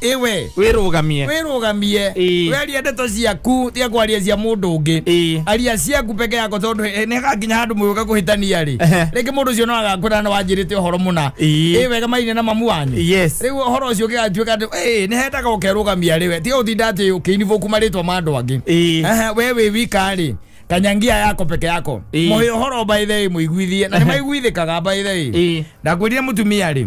iwe wĩrũgamie wĩrũgamie Ĩĩ. weria ndeto ciaku tiga kwaria cia mũndũ ũngĩ Ĩĩ. aria ciaku peke yako tondũ eh, nĩ hagakinya handũ mũgĩũka kũhĩtania rĩ Ehe. rĩngĩ mũndũ ũcio no agakwĩra na wanjĩrĩte ũhoro mũna Ĩĩ. ĩ wega mainie na mamu wanyu Yes. rĩu ũhoro ũcio ũgĩgatuĩka atĩ "Ĩĩ, nĩ hendaga ũkerũgamia rĩwe tiga ũtinda atĩ ũkĩinibũku marĩtwa ma andũ angĩ Ĩĩ. Aha, we wĩ wika rĩ kanyangia yako peke yako Ĩĩ. mũhĩ ũhoro mbaithei mũiguithie na nĩ maiguithĩkaga mbaithei Ĩĩ. ndakwĩrire mũtumia rĩ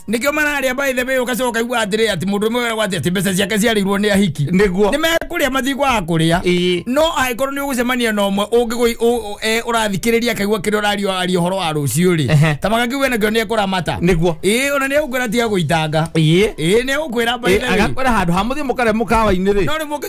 nikio mararia by the way ugacoka ukaigua atiri ati mundu umwe wera gwati ati mbeca ciake ciarirwo ni ahiki niguo ni mekuria mathiko a kuria Ii. no angĩkorwo nĩ ũgũcemania na ũmwe ũngĩgũ- ũ- ũ- e, ũrathikĩrĩria akaigua kĩrĩa ũrario aria ũhoro wa rũciũ Ehe. rĩ ta magakiuga nakĩo nĩ ekũramata niguo ĩĩ ona nĩ egũkwĩra tiga gũitanga ĩĩ ĩĩ nĩ egũkwĩra by the way. agakwĩra handå ha må thiä må karä må kawa-inä rä no nĩ mũkĩ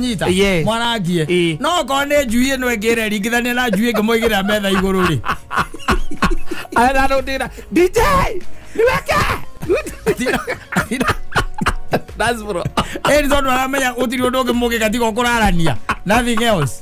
nyita Yes. mwarangie Ĩ. no okorwo nĩ njui ĩno ĩngĩ ĩrĩa ringithania na njui ĩngĩ mũigĩrĩra metha igũrũ rĩ ararondera dj niweke That's bro. ĩni tondũ aramenya gũtirĩ ũndũ ũngĩ mũngĩka tiga ũkũrarania nothing else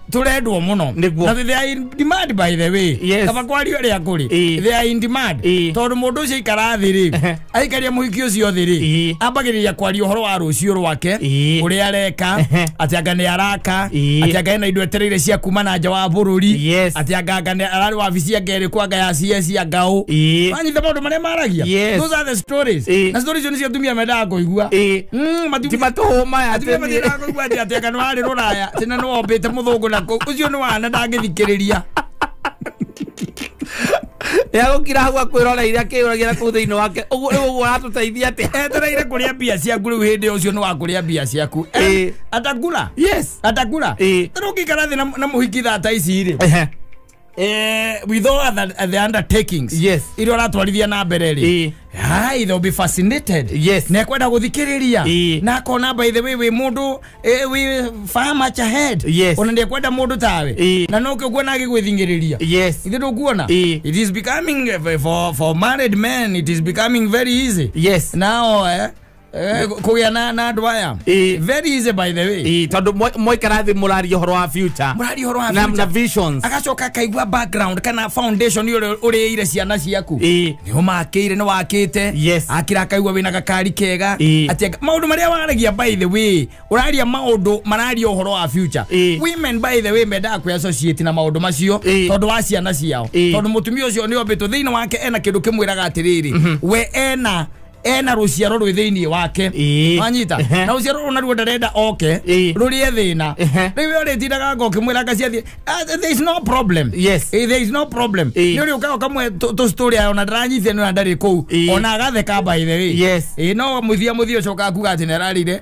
turendwo muno Nĩguo. na they are in demand by the way Yes. kaba kwario ria kuri Ĩĩ. they are in demand Ĩĩ. tondu mundu ucio ikara thi ri Ehe. aikaria muhiki ucio thi ri Ĩĩ. ambagiriria kwaria uhoro wa rucio rwake Ĩĩ. uria areka Ehe. ati anga ni araka Ĩĩ. ati anga ena indo etereire cia kuma na nja wa bururi Yes. ati anga anga ni arari wabici anga iri kwa anga ya cia cia ngau Ĩĩ. wanyita maundu maria maragia Yes. those are the stories Ĩĩ. na stories icio nicio atumia mendaga kuigua Ĩĩ. Mm, matiumia- Ti matũhũma ya atumia tene. matiendaga kuigua Ati ati aka no ari ruraya tina no ombite muthungu na ku ucio no wana ndangithikiriria yagukira hau akwiroreire akiyuragira kuu thiini wake uguo riu uguo aratuteithia atia etereire kuria mbia ciaku riu hindi ucio no akuria mbia ciaku Eh. atakura yes atakura Eh. rugikara thi na muhiki thata ici ri Ehe. eh, with all other, the undertakings Yes. iria ũratwarithia na mbere Eh. rĩ Hai, they'll be fascinated Yes. na ekwenda gũthikĩrĩria Eh. na akona by the way wĩ mũndũ eh, wĩ far much ahead Yes. ona ndekwenda mũndũ tawe Eh. na no kĩkuona agĩgwĩthingĩrĩria yes ithe ndũkuona Eh. it is becoming eh, for, for married men it is becoming very easy yes now eh, Eh, kũgĩa na na andũ aya Ĩ. very easy by the way Ĩ, tondũ mwa- mwaikara thĩ mũraria ũhoro wa future mũrari ũhoro wa na, na future. visions agacoka akaigua background kana foundation ũrĩa ũrĩire ciana ciaku Ĩ. nĩ ũmakĩire nĩ wakĩte Yes. akira akaigua wĩna gakari kega Ĩ. Ati aka- maũndũ marĩa waragia by the way ũraria maũndũ mararia ũhoro wa future Ĩ. women by the way mendaga kwĩ associate na maũndũ macio Ĩ. tondũ wa ciana ciao Ĩ. tondũ mũtumia ũcio nĩ ombĩtwo thĩinĩ wake ena kĩndũ kĩmwĩraga atĩrĩrĩ we ena ena rũciaro rwĩ thĩinĩ wake Ĩĩ. wanyita Ehe. na rũciaro rũu naruo ndarenda oke Ĩĩ. rũrĩe thĩna Ehe. rĩu we ũrĩtindaga ngo ũkĩmwĩra ngaciathiĩ "Ah, there is no problem Yes. Eh, there is no problem Ĩĩ. nĩ ũrĩ ũkaga ũkamwe tũcitorĩ ayo na ndaranyitithia nĩ ona ndarĩ kũu Ĩĩ. ona agatheka by the way Yes. Ĩĩ, no mũthia mũthia ũcoka akuga atĩ nĩ ararire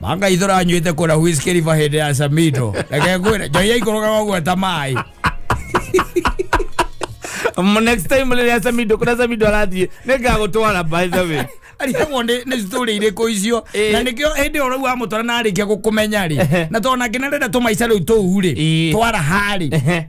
manga itho ranywite kura huiskiriva hindi ya samido reke ngwire njoi yaikorogaga uguo ta mai M- next time rĩrĩa samido kũrĩa samido arathiĩ nĩ ngagũtwara by the way arĩagwo nĩ nĩ story irĩkũ icio Ĩĩ. na nĩkĩo hĩndĩ ĩyo rĩu wamũtwara na arĩkia gũkũmenya rĩ na tondũ nake nĩ arenda tũmaica rĩu tũu rĩ Ĩĩ. twara harĩ Ehe.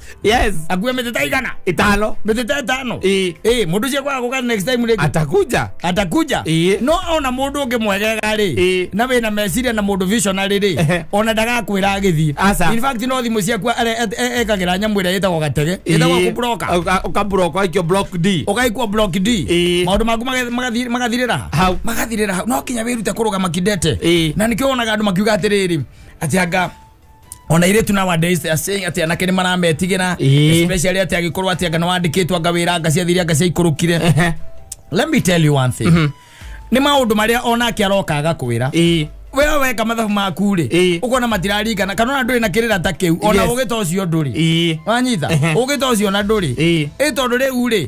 yes akuwe meteta igana itano meteta itano Ĩĩ. Eh, mundu cia kwa guka next time rĩngĩ atakuja atakuja Ĩĩ. no ona mundu ungi mwegega Ĩĩ. ri na wina meciria na mundu visionary ri Ehe. ona ndagakwira agithii Aca. in fact no thimu ciaku ekagira nyamu ira yitagwo gatege yitagwo Ĩĩ. kubroka Ũka- ũkabroka aikio block d ugaikwo block d Ĩĩ. maundu maku maga- magathi- magathirira ha Hau. magathirira ha no kinya wirute kurugama kindete Ĩĩ. na nikio wonaga andu makiuga atiriri ati anga ona iritu nowadays they are saying ati anake ni marametigĩra Ĩĩ. especially ati agĩkorwo ati anga nĩwandĩkĩtwo anga wĩra anga ciathire anga ciaikũrũkire Ehe. let me tell you one thing nĩ maũndũ marĩa onake aroka agakwĩra Ĩĩ. wewe weka mathabu maku rĩ Ĩĩ. ũkona matiraringana kana ona ndũrĩ na kĩrĩra ta kĩu ona Yes. ũgĩta ũcio ndũrĩ Ĩĩ. wanyita Ehe. ũgĩta ũcio na ndũrĩ Ĩĩ. ĩ tondũ rĩu rĩ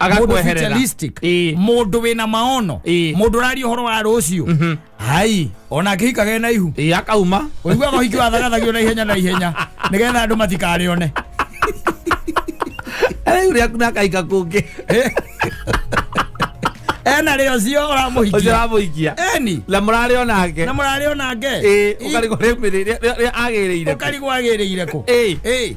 mũndũ Agakweherera. vitalistic Ĩĩ. mũndũ wĩna maono Ĩĩ. mũndũ ũraria ũhoro wa rũciũ hai ona akĩhikage na ihu ĩ akauma ũiguaga ũhiki wa thagathagio na ihenya na ihenya nĩgetha andå matikarĩone rĩu rĩaku nakaika kũngĩ ena rä o cio å ramå ũcio hikia ramũikia eni na mũrarĩ o nake na må rarä o nake ĩ ũkarigwo rĩmĩrĩ rĩa agĩrĩire å karigwo agä rä ire kå Ĩĩ.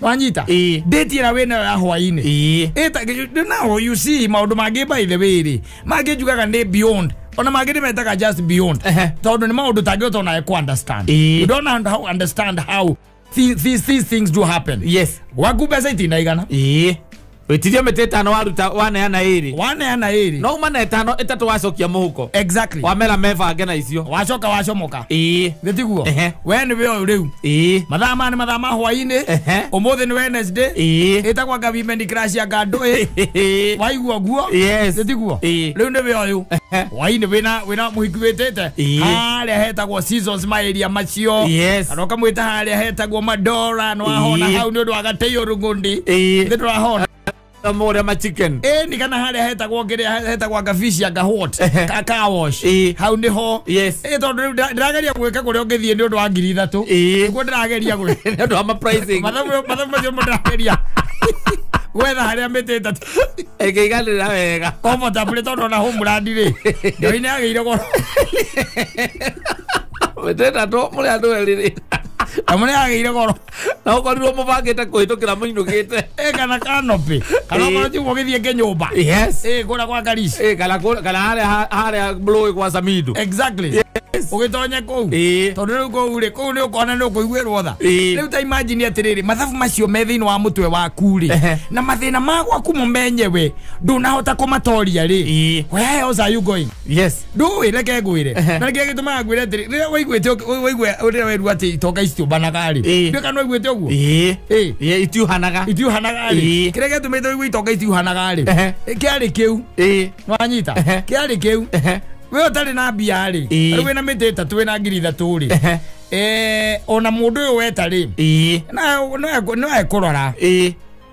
wanyita Ĩĩ. ndĩti ĩra wĩna ya hwainĩ ĩĩ ĩta naho you see maũndũ mangĩ by the way rĩ mangĩ njugaga nĩ beyond ona mangĩ nĩ metaga just beyond Ehe. tondũ nĩ maũndũ tangĩhota onawe ku understand Ĩĩ. you don't un- how understand how thi- these, these things do happen yes waku mbeca itinaigana ĩĩ wĩtirie mĩtĩ ĩtano waruta waneana ĩrĩ waneana ĩrĩ no uma na ĩtano ĩtatũ wacokia mũhuko exactly wamera mebange na icio wacoka wacomoka ĩĩ gĩtiguo Ehe. we nĩ wĩ ũyũ rĩu ĩĩ mathaa maya nĩ mathaa ma hwainĩ Ehe. ũmũthĩ nĩ wednesday ĩĩ ĩtagwa ngavimeni crash ya ngandũĩ waigua guo Yes. gĩtiguo Ĩĩ. rĩu nĩ wĩ ũyũ Ehe. hwainĩ wĩna wĩna mũhiki wĩtĩte Ĩĩ. harĩa hetagwo seasons maeria macio yes anoka mwita haria hetagwo madora nwahona Ii. hau ni undu wa gateio rungundi Ii. ndi turahona Kama ule ma chicken. ni kana haria hetagwo ngiria hetagwo ngafici anga hot Ehe. ka car wash Ii. hau niho Yes. Eh, tondu riu ndira- ndirageria gwika kuria ungithie ni undu wa ngiri ithatu Ii. niguo ndirageria gwi Nĩ ũndũ wa ma pricing. mathabu mathabu macio mo ndirageria gwetha haria miti itatu Ĩkĩiganĩra wega. comfortable tondu ona home brand ri ndio ine agä ire goro wetenda andå må rä andå erä rä na må rä agä ire goro na å korirwo må bangä te kå hä tå kä ra må inå gä te ä kana kanopä kana Ĩĩ. korwo tigwo gä thiä ngä nyå mba ä kå ra gwa karici Ĩ, kana kũ- kana harä harä rå ä kwa samindo exactly ũgĩtonye kũu Ĩĩ. tondũ rĩu kũu rĩ kũu nĩ ũkona nĩ ũkũiguĩrwo tha Ĩĩ. rĩu ta imagine atĩrĩrĩ mathabu macio me thĩinĩ wa mũtwe waku rĩ Ehe. na mathĩna ma gwaku mũmenyewe ndũnahota kũmatoria rĩ Ĩĩ. where else are you going yes ndũĩ reke ngwĩre Ehe. na kĩrĩa gĩtũmaga ngwĩre atĩrĩ rĩrĩa waiguĩte ũk- waigue rĩrĩa werua atĩ itoka icitiũmbanaga-rĩ Ĩĩ. nduĩka nĩ waiguĩte ũguo ĩĩ Ĩĩ. ĩĩ itiuhanaga itiuhanaga-rĩ Ĩĩ. kĩrĩa gĩatũmĩte waigue itoka itiuhanaga-rĩ Ehe. kĩarĩ kĩu ĩĩ wanyita Ehe. kĩarĩ kĩu ehe we ũtarĩ na mbia-rĩ Ĩĩ. rĩu wĩna mĩtĩ ĩtatũ wĩna ngiri ithatũ-rĩ ehe Eh, ona mũndũ ũyũ weta-rĩ ĩĩ no ekũrora ĩĩ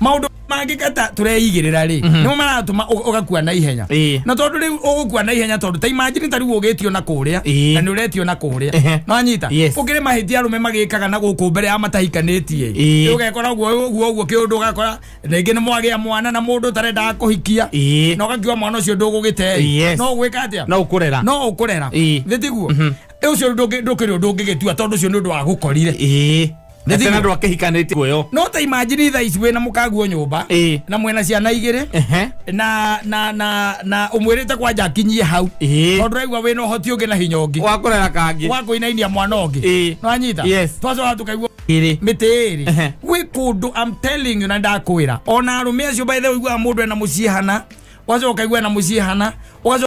maundu mangikata tureigirira ri nimo maratuma u- ugakua na ihenya Ĩĩ. na tondu riu ugukua na ihenya tondu ta imagine ta riu ugitio na kuria Ĩĩ. na ni uretio na Ehe. kuria no anyita Yes. ukire mahitia arume magikaga na guku mbere ya matahikanitie Ĩĩ. Rĩu ugekora uguo uguo uguo kiundu ugakora ringi ni mwagia mwana na mundu tarendaga kuhikia Ĩĩ. na ugakiwa mwana ucio ndugugitei Yes. no gwika atia no ukurera no ukurera Ĩĩ. thitiguo ucio ndukiri undu ungigitua tondu ucio ni undu wa gukorire ĩĩ Nĩ Atĩ thimũ. andũ akĩhikanĩtie kuoyo no ta imagine thaa ici wĩna mũkaguo nyũmba Ĩĩ. na mwena ciana igĩrĩ Ehe. na na na na umwirite kwanja akinyie hau Ĩĩ. tondu raigua wina uhoti ungi na hinya ungi wakorera kangĩ wa kuinainia mwana ungi Ĩĩ. nwanyita Yes. twacoka tukaigua Ĩrĩ. mĩtĩ Ehe. ĩrĩ gwĩ kũndũ I'm telling you na ndakwĩra ona arũme acio by the way ũiguaga mũndũ ena mũciĩ hana ũgacoka ũkaigua ena mũciĩ hana ũgacoka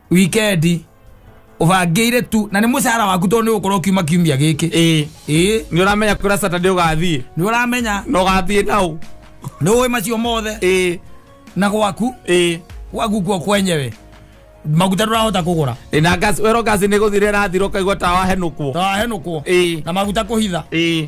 wikendi ubangĩire tu na nĩ mũcara waku tondũ nĩ ũgũkorwo kiuma kiumia gĩkĩ ĩĩ ĩĩ nĩ ũramenya kwĩra saturday ũgathiĩ nĩ ũramenya na ũgathiĩ nau nĩ ũĩ macio mothe ĩĩ na gwaku ĩĩ gwaku kuo kwenyewe maguta ndũrahota kũgũra Ĩĩ, na gas wero gas nĩ gũthira ĩrathira ũkaigua tawa henũkwo tawahenũkwo ĩĩ na maguta kũhitha ĩĩ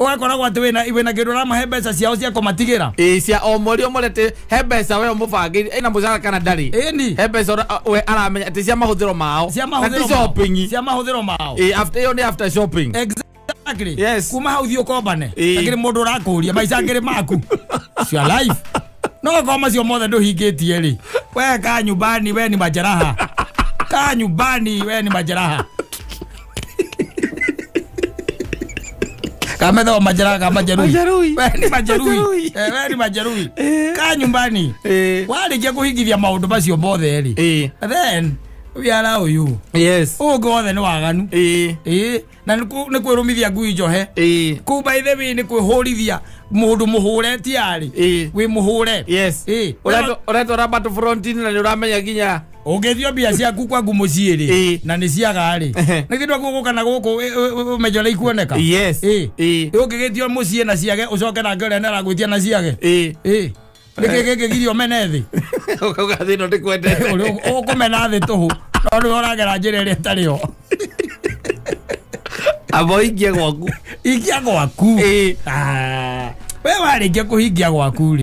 ũgakoragwo atĩ wĩna wĩna kĩndũ ũramahe mbeca ciao cia kũmatigĩra ĩ cia o mweri o mweri atĩ he mbeca we ũmũbangĩire ĩna mũcara kana ndarĩ ĩni he mbeca ũra- we aramenya atĩ cia mahũthĩro mao cia Na ti mahũthĩro mao. shopping cia mahũthĩro mao ĩ after ĩyo nĩ after shopping exactly Yes. kuma hau thiĩ ũkombane Ĩĩ. akĩrĩ mũndũ ũrakũria maica ngĩrĩ maku cia life no gakoo macio mothe ndũhingĩtie rĩ we ka nyumbani we ni majeraha ka nyumbani we ni majeraha kama ndo majeraha kama jeruhi Majeruhi. Wewe ni majeruhi Majeruhi. Eh, wewe ni majeruhi Eh. kaa nyumbani Eh. warĩkia kũhingithia maũndũ macio mothe rĩ Eh. then wiara ũyũ Yes. ũngĩ wothe nĩ waganu Eh. Ĩĩ, na nĩ kũ- nĩ kwĩrũmithia ngui njohe Eh. kuu by the way nĩ kwĩhũrithia mũndũ mũhũre tiarĩ Ĩĩ. wĩ mũhũre Yes. Ĩĩ. Ũretwo- ũretwara battle front-inĩ na nĩ ũramenya nginya ũngĩthio mbia ciaku kwangu mũciĩ rĩ Ĩĩ. na nĩ ciaga rĩ Ehe. nĩ kĩndũ guku kana guku ũmenyo ũrĩa ikuoneka Yes. Ĩĩ. Ĩĩ. ũngĩgĩtio mũciĩ na ciage ũcoke nake ũrĩa nĩaragwĩtia na ciage Ĩĩ. Ĩĩ. nĩkĩ gĩkĩgirio mene thĩ Ũkauga thĩ ĩno ndĩkwendete. Ũrĩ- ũkũmena thĩ tũhũ no nĩwe ũragera njĩra ĩrĩa ĩtarĩ yo Amba ũingĩe gwaku. ikia gwaku Ĩĩ. Ah. we warĩkia kũhingia gwaku rĩ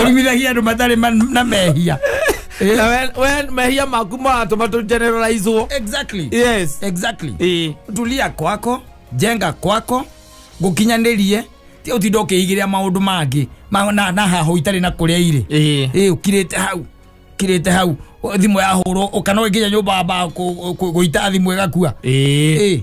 ũrumithagia andũ matarĩ ma- na mehia Eh, Na we- we mehia maku maratũma tũgenereraizwo exactly yes exactly Eh. tulia kwako jenga kwako ngukinyanĩrie ti ũtinda ũkĩigĩrĩa maũndũ mangĩ ma- na na haho itarĩ na kũrĩa irĩ Eh. ä kirĩte hau kirĩte hau thimå yahå rwo å kana å ngä nya nyå mba mba gå ita thimå ä gakua Eh. Ĩ.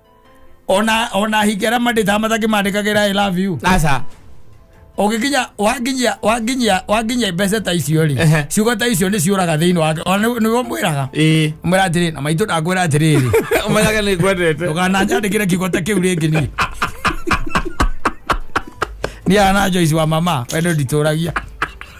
ona ona hingi arĩa mandĩtaga matakĩmandĩkagĩra i love you aca ũgĩkinya wanginyia wanginyia wanginyia mbeca ta icio rĩ Ehe. ciugo ta icio nĩ ciũraga thĩinĩ wake ona nĩ- nĩwe mwĩraga ĩĩ mwĩra atĩrĩ na maitũ ndakwĩra atĩrĩrĩ ũmenyaga nĩ ngwendete ndũkananjandĩkĩre kiugo ta kĩu rĩngĩ niĩ niĩ ana joici wa mama we nĩ nditũragia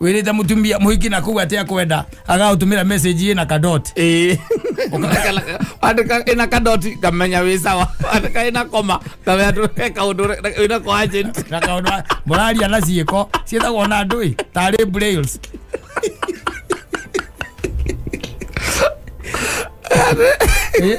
wirite mutumia muhiki na kuga atia kwenda agautumira message ye na kadot Eh. andika ina kadoti kamenya wi sawa andika ina koma kamenya tu kaundu ina ko agent na kaundu muraria na ciiko cietagwo na ndui tari brails Eh.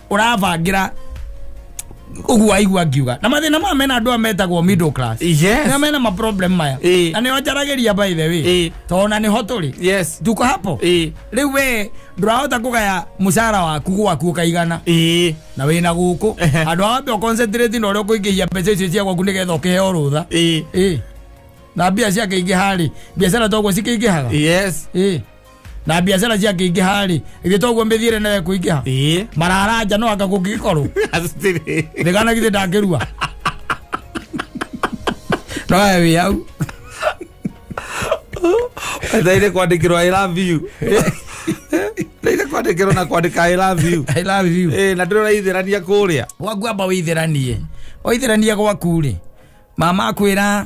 ũrabangĩra ũguo waigua ngiuga na mathĩna maya mena andũ aya metagwo middle class Yes. na mena maproblem maya Eh. na nĩo njaragĩria by the way Eh. tondũ na nĩho tũrĩ yes tuko hapo Eh. rĩu we ndũrahota kũgaya mũcara waku gwaku ũkaigana ĩĩ na wĩna gũkũ Ehe. andũ awambe ũconcentrate na ũrĩa ũkũingĩhia mbeca icio cia gwaku nĩgetha ũkĩheo rũtha ĩĩ ĩ na mbia ciakĩingĩha rĩ biacara toguo cikĩingĩhaga yes ĩ na biacara ciakĩingĩha rĩ ithe toguo mĩthiĩre nayo kũingĩha ĩĩ mararanja no anga kũngĩgĩkorwo Asitiri. thigana githĩ ndangĩrua noe wĩ au ndaire kwandikirwo i love you ndaire kwandikirwo na kwandika i love you I love you Eh, na ndĩrona ithirania kũrĩa gwaku amba wĩithĩranie waithĩrania gwaku rĩ mama akwĩra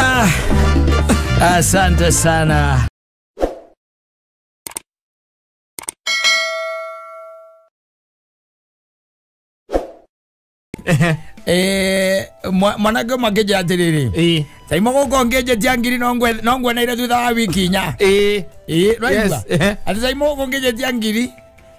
Ah, asante sana. Eh, mwa- mwanake makĩnjĩra atĩrĩrĩ Eh, taimo gũkũ ngĩnjĩtia ngiri no ngwe- no nguoneire thutha wa wiki inya eh, Ĩĩ, nĩwaigua? Yes, eh. atĩ taimo gũkũ ngĩnjĩtia ngiri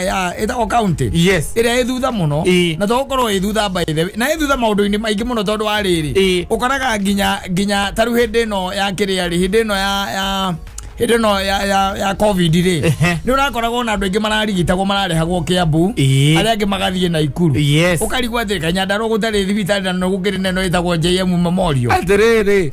ya ita o county Yes. ira ithutha muno Ĩĩ. na to korwo ithutha by the way na ithutha maundu-ini maingi muno tondu wa riri Ĩĩ. ukoraga nginya nginya taru hindi ino ya kiria ri hindi ino ya ya hindi ino ya ya ya covid ri Ehe. ni urakoragwo ona andu aingi mararigitagwo mararehagwo kiambu Ĩĩ. aria angi magathie na ikuru Yes. ukarigwo atirika nyandarwo gutari thibitari na no gukiri neno itagwo jm memorial atiriri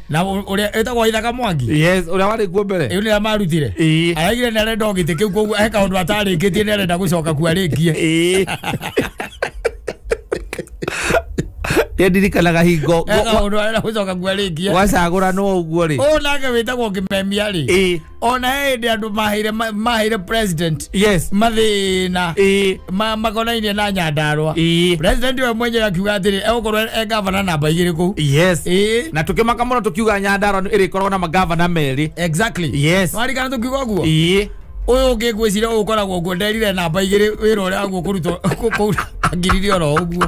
na ũ- ũrĩa ĩtagwo ithaga mwangi yes uria wari kuo mbere ĩyo nĩrĩa marutire Ĩĩ. araigire nĩ arenda o gĩtĩ kĩu koguo he kaũndũ atarĩkĩtie nĩ arenda gũcoka kuo arĩkie Ĩĩ. nä ndirikanaga hingo he kaũndũ arenda gũcoka kuo arĩkie gwacagå ranwo å guo rä å nake wĩtagwo ngĩmemia rĩ Ĩĩ. ona he hĩndĩ andũ maheire ma- maheire president yes mathĩna ĩĩ ma- makonainie na nyandarwa ĩĩ president we mwenyewe akiuga atĩrĩ egũkorwo e gavana namba igĩrĩ kũu yes ĩĩ na tũkĩmaka mũno tũkiuga nyandarwa ĩrĩkoragwo na magavana merĩ exactly Yes. warikana tũkiuga ũguo ĩĩ ũyũ ũngĩ ngwĩciria ũyũ ũkoragwo nguo nderire namba igĩrĩ wĩra ũrĩa waguo kũrutwo kũu angirire oro ũguo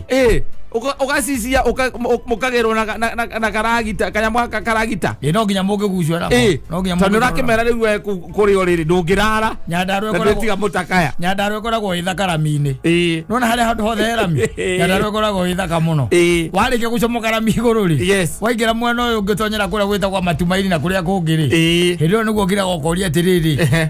Eh, uka- ukasisia uka- mu- mukagerwo na- na- na na karagita kanyamũ gaka karagita ĩ no nginya mũngĩgucio namo Eh, no nginya tondũ mũngĩkorwo namo. ũrakĩmera rĩu we kũ- kũrĩ o rĩrĩ ndũngĩrara nyandarũ na ĩkoragwo ndĩtiga mũtakaya nyandarũ ĩkoragwo ĩ thaka rami-inĩ Ĩĩ. nona harĩa handũ hothe he rami Ĩĩ. nyandarũ ĩkoragwo ĩ thaka mũno Ĩĩ. warĩkia gũcomoka rami igũrũ rĩ Yes. waingĩra mwena ũyũ ũngĩtonyera kũrĩa gwĩtagwo matumaini na kũrĩa kũngĩ rĩ Ĩĩ. hĩndĩ ĩyo nĩguo ngiraga ũkoria atĩrĩrĩ Ehe.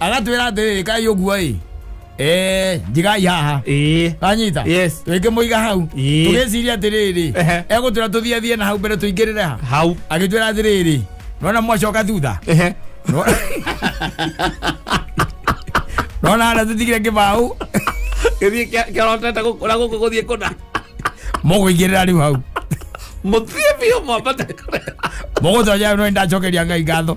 agatwira atiriri kai uguo i Eh, njigai haha ĩĩ anyita Yes. twĩke mũiga hau Ĩĩ. tũgĩciria atiriri Ehe. egũtwira tũthie thie na hau mbere tũingĩrĩre ha hau agĩtwira atiriri nona mwacoka thutha Ehe. nona harĩa tũtigire kĩbaũ gĩthiĩ kĩa- kĩarotete gũkũra gũkũ gũthiĩ kũna mũgũingĩrĩra rĩu hau mũthiĩ biũ mwambate kũrĩa mũgũtonya no nĩ ndacokeria ngai ngatho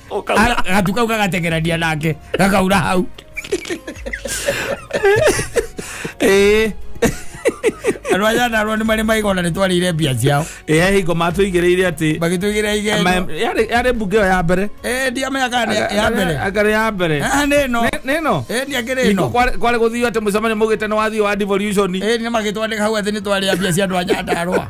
Ũkauga. A- gatu kau gagateng'erania nake gakaura hau Ĩĩ. andå a nyandarwa nä marä maigona nä twarä mbia ciao Ĩĩ, hingo matũigĩrĩire atĩ magä tå igä ra igenyo Ma- yarĩ yarĩ mbunge ĩyo ya mbere ndiamenya kana nĩ ya mbere akarĩ ya mbere Ah, nä no Nĩ- nĩ ĩno ä nä akä rä Hingo no kwarĩ kwarĩ gũthiu atĩ mũcemanio mũgĩte nĩ wathiĩ wa devolution ä nä magä twandä ka hau athä nä twarä mbia cia andå a nyandarwa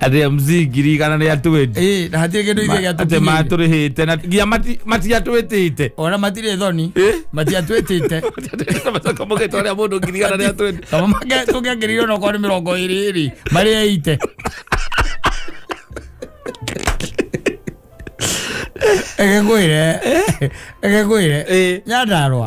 atä a mzii ngiri igana nä atwä Ĩĩ, na hatirĩ kĩndũ ithuĩ atä gĩatũkinyĩire. matå rä hä te na nginya mati- matiatwä tä te ona matirĩ thoni Ĩ? matiatwĩtĩte macokamå gä twarä a må ndå ngiri igana nä atwä kama mage- tũngĩangĩrĩire ona okorwo nĩ mĩrongo ĩrĩ ĩrĩ marĩ eite ĩgĩkwĩre ĩgĩkwĩre Ĩ. nyandarwa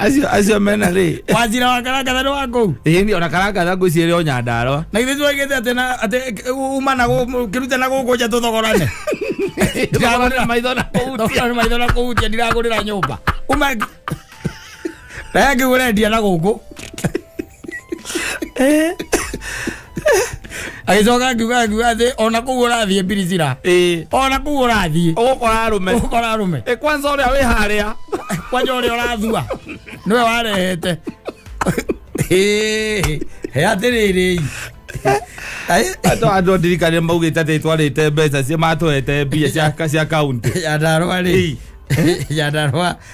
acio acio mena rĩ wanjira wa karangatha nĩ wa kũu ĩĩ nĩ ona karangatha ngwĩciria o nyandarwa na ithe tuagĩte atĩ na atĩ uma na gũ- kĩrute na gũkũ nja tũthogorane Tũthogorane maitho na kũhutia. Tũthogorane maitho na kũhutia ndiragũrĩra nyũmba uma naye ngĩgũrendia na gũkũ agĩcoka akiuga akiuga atĩ ona kũu ũrathiĩ mbirizira ĩĩ ona kũu ũrathiĩ ũgũkora arũme ũkora arũme ĩ kwanza ũrĩa wĩ harĩa kwanja ũrĩa ũrathua nĩwe warehete Ĩĩ, he atĩrĩrĩ andũ andũ ndirikane maugĩte atĩ twarĩte mbeca cia matũhete mbia cia cia kaunti yandarwa rĩ yandarwa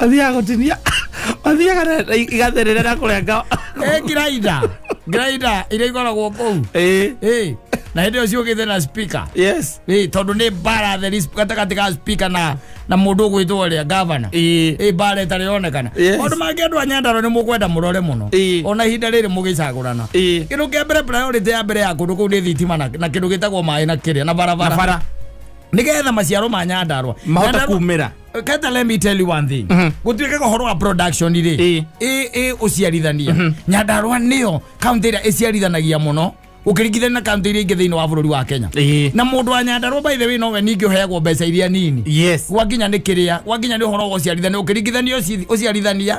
mathiaga gũtinia mathiaga na- na igatherera na kũrenga Eh, grinder grinder iria ikoragwo kũu Eh, Eh, na hĩndĩ ĩyo ciũkĩte na speaker yes Eh, tondũ nĩ mbara theri sp- gatagatĩ ga speaker na na mũndũ ũgwĩtwo ũrĩa gavana Eh. Eh, mbara ĩtarĩ yonekana Yes. maũndũ mangĩ andũ a nyandarwa nĩ mũkwenda mũrore mũno Eh. ona ihinda rĩrĩ mũgĩcagũrana Eh. kĩndũ kĩa mbere priority ya mbere ya kũndũ kũu nĩ thitima na na kĩndũ gĩtagwo maĩ na kĩrĩa na na barabara bara nĩgetha maciaro ma nyandarwa mahote Nyandarua- kumĩra kata let me tell you one thing gũtuĩke ũhoro wa production rĩ Ĩ. ĩ ĩ ũciarithania nyandarũa nĩyo kaunti ĩrĩa ĩciarithanagia mũno ũkĩringithania na kaunti iria ingĩ thĩinĩ wa bũrũri wa kenya Ĩ. na mũndũ wa nyandarũa by the way nowe ningĩ ũheagwo mbeca iria nini yes gwakinya nĩ kĩrĩa gwakinya nĩ ũhoro wa ũciarithania ũkĩringithania ũci- ũciarithania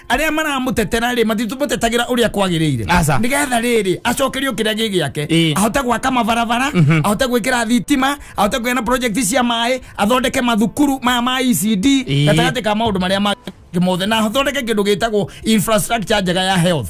arĩa maramũtetera rĩ matitũmũtetagĩra ũrĩa kwagĩrĩire Aca. nĩgetha rĩrĩ acokerio kĩrĩa gĩ gĩake Ĩ. ahote gwaka mabarabara ahote gwĩkĩra thitima ahote kũgĩa na project cia maĩ athondeke mathukuru maya ma ECD Ĩ. gatagatĩ ka maũndũ marĩa mangĩ mothe na athondeke kĩndũ gĩtagwo infrastructure njega ya health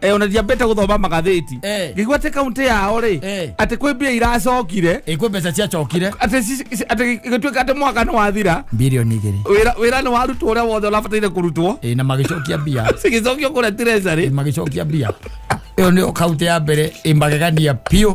eh, ona ndiambĩte gũthoma magathĩti Eh. ngĩigua atĩ kauntä yao rĩ Eh. atä kwä mbia iracokire ĩkwĩ mbeca ciacokire atä ci- ci- atä gĩtuä ka atä mwaka nä wathira bilioni igĩrĩ wĩra- wĩra nä warutwo å rä a wothe å rabataire kå rutwo Ĩ, na magĩcokia mbia cigĩcokio kå rä a Ĩ, magĩcokia mbia ĩyo nĩyo kaunti ya mbere ĩmagegania biũ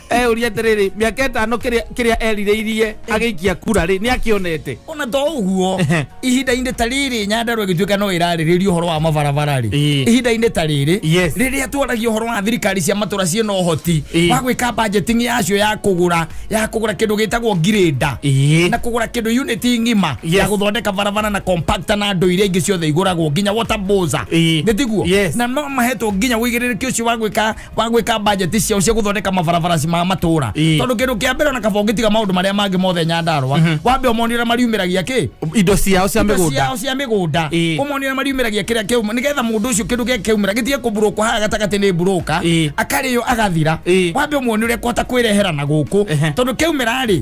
eyũria atĩrĩrĩ mĩaka ĩtano kĩrĩa kĩrĩa erirĩirie agĩikia kura rĩ nĩ akĩonete ona to ũguo Ehe. ihinda-inĩ ta rĩrĩ nyandarua gĩtuĩka no ĩrarĩrĩria ũhoro wa mabarabara rĩ Ĩĩ. ihinda-inĩ ta rĩrĩ Yes. rĩrĩa twaragia ũhoro wa thirikari cia matũra ciĩna ũhoti Ĩĩ. wa gwĩka budgeting yacio ya kũgũra ya kũgũra kĩndũ gĩtagwo ngirĩnda Ĩĩ. na kũgũra kĩndũ unit ng'ima Yes. ya gũthondeka barabara na compactor na ndũ iria ingĩ ciothe igũragwo nginya water boza Ĩĩ. nĩ tiguo Yes. na no mahetwo nginya wĩigĩrĩrĩki ũcio wa gwĩka wa gwika budget ciao cia guthondeka mabarabara ma matura Ĩĩ. tondu kindu kia mbere ona kaba ungitiga maundu maria mangi mothe nyandarwa wambe umonire mariumiragia ki indo ciao cia indo mĩgũnda ciao cia mĩgũnda Ĩĩ. ũmonire mariumĩragia kĩrĩa kĩauma nĩgetha mũndũ ũcio kĩndũ gĩake kĩaumĩra gĩtige kũburũkwo haha gatagatĩ nĩ mburũka Ĩĩ. akarĩo agathira Ĩĩ. wambe ũmuoni ũrĩa kwota kwĩrehera na gũkũ Ehe. tondũ kĩaumĩra-rĩ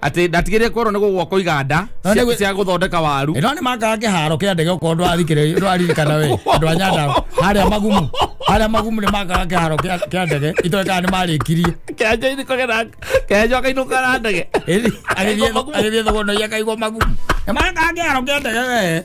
atä ndatigä korwo nä gå gwakwo iganda No nĩ gwĩ- cia gå thondeka waru ĩno nĩ makaga kĩharo kĩa ndege okorwo ndwathikĩrĩria ndwaririkana we andũ a nyanda harĩa magumu harĩa magumu nĩ makaga kĩharo kĩa kĩa ndege itoĩ kana nĩ marĩkirie kenjainä kagera kenjo akainå kara ndege Ĩri, agĩthiĩ thogona akaigwo magumu nĩ makaga kĩharo kĩa ndege we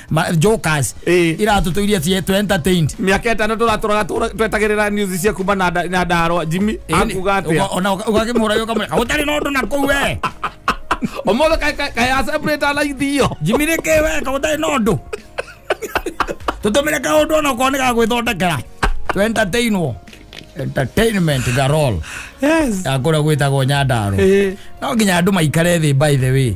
Ma- jokers Eh. iratutũirie cie tũ entertained miaka itano turaturaga twetagirira news cia kuma na nda- na ndaro jimmy akuga atia ũgakĩmũra ũkamũreka gũtarĩ na ũndũ na kũu we omothe kayacebrĩta na ithio jimi nĩ kĩ we ka gũtarĩ na ũndũ tũtũmĩre kaũndũ ona ũkorwo nĩ gagwĩthondekera tũ entertainwo entertainment garol yes ya kũrĩa gwĩtagwo nyandarũ Eh. no nginya andũ maikare thĩ by the way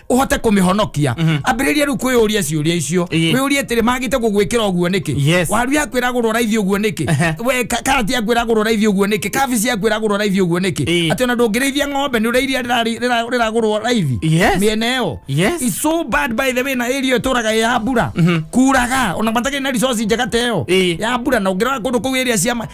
uhote kumihonokia ambiriria riu kwiyuria ciuria icio Ĩĩ. wiyurie atiri magite gugwikira uguo niki Yes. waru yaku iragurwo raithi uguo niki Ehe. we ka- karati yaku iragurwo raithi uguo niki kabici yaku iragurwo raithi uguo niki Ĩĩ. ati ona ndungirithia ng'ombe ni urairia riragurwo raithi Yes. miena iyo Yes. It's so bad by the way na area ituraga ya mbura kuraga ona matakiri na resource njega teyo Ĩĩ. ya mbura na ungira kundu kuu area cia ma-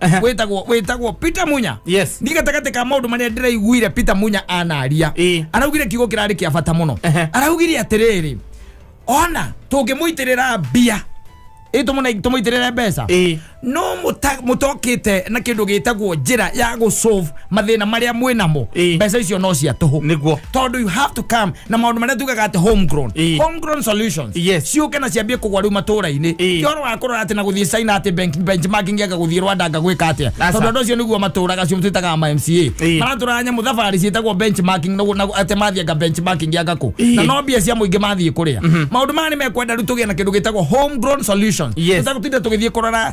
Aha. wĩtagwo wĩtagwo peter munya Yes. nĩ gatagatĩ ka maũndũ marĩa ndĩraiguire peter munya anaria Ĩĩ. araugire kiugo kĩrarĩ kĩa bata mũno Aha. araugire atĩrĩrĩ ona tũngĩmũitĩrĩra mbia ĩ tũmũne- tũmũitĩrĩre mbeca Ĩĩ. no mũta- mũtokĩte na kĩndũ gĩtagwo njĩra ya gũsolve mathina maria mwĩ namo Ĩĩ. mbeca icio no cia tũhũ Nĩguo. tondũ you have to come na maũndũ marĩa tugaga atĩ homegrown Ĩĩ. homegrown solutions Yes. ciũke na ciambie kũgwa rĩu matũũra-inĩ Ĩĩ. ti ũhoro wa kũrora atĩ na gũthiĩ China atĩ bank- benchmarking ega gũthiĩ Rwanda anga gwĩka atĩa Aca. tondũ andũ acio nĩguo matũũraga acio twĩtaga ma MCA Ĩĩ. maratũraga nyamũ thabarĩ ciĩtagwo benchmarking na- na- atĩ mathiĩ anga benchmarking anga kũ Ĩĩ. na no mbia cia mũingĩ mathiĩ kũrĩa maũndũ maya nĩ mekwenda rĩu tũgĩe na kĩndũ gĩtagwo homegrown solutions Yes. tũtagũtinda tũgĩthiĩ kũrora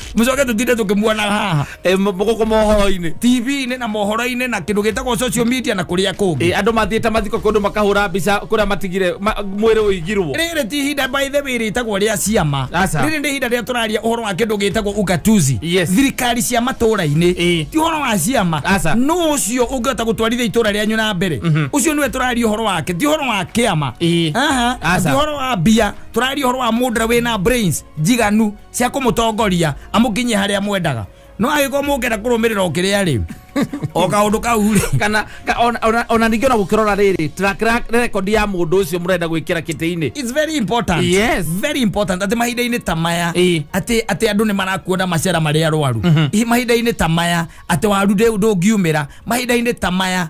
mucoke tutinde tukimuona haha Eh, m- gũkũ mohoro-inĩ tv-inĩ na mohoro-inĩ na kindu gitagwo social media na kuria kungi Eh, andũ mathiĩte mathiko kũndũ makahũra mbica kũrĩa matigire ma- mwĩrĩ ũigirwo rĩrĩ ti ihinda by the way rĩtagwo rĩa ciama Aca. rĩrĩ nĩ ihinda rĩa tũraria ũhoro wa kĩndũ gĩtagwo ugatuzi Yes. thirikari cia matũũra-inĩ Ĩĩ. ti ũhoro wa ciama Aca. no ũcio ũngĩhota gũtwarithia itũũra rĩanyu na mbere ũcio nĩwe tũraria ũhoro wake ti ũhoro wa kĩama Ĩĩ. Aha. Aca. ti ũhoro wa mbia tũraria ũhoro wa mũndra wĩna brains njiganu cia kå må tongoria amå kinyie harä a mwendaga no agä korwo må ngenda kå rå mä rä ra å kä rä a rä o kaå ndå kau rä kana ka- ona- ona- ona ningĩ ona gũkĩrora rĩrĩ track ra- record ya mũndũ ũcio mũrenda gwĩkĩra kĩtĩ-inĩ It's very important. Yes. Very important. Atĩ mahinda-inĩ ta maya Ĩĩ. atĩ atĩ andũ nĩ marakuona macera marĩa arwaru Ĩ, mahinda-inĩ ta maya atĩ waru ndĩ- ndũngiumĩra mahinda-inĩ ta maya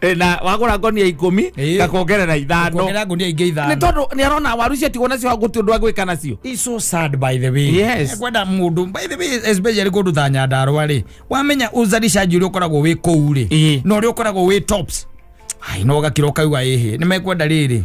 Eh, na wagura ngonia ikumi Eh. ngakongerera ithano kuongerera ngunia ingĩ nä ithano tondå nä arona waru icio tigwo nacio gå tä å ndå agwä ka nacio It's so sad by the way Yes. kwenda mundu by the way especially kundu ta nyandarwa ri wamenya uzalishaji uria ukoragwo wi kuu ri Eh. na uria ukoragwo wi tops ai no gakira ukauga ihi ni mekwenda riri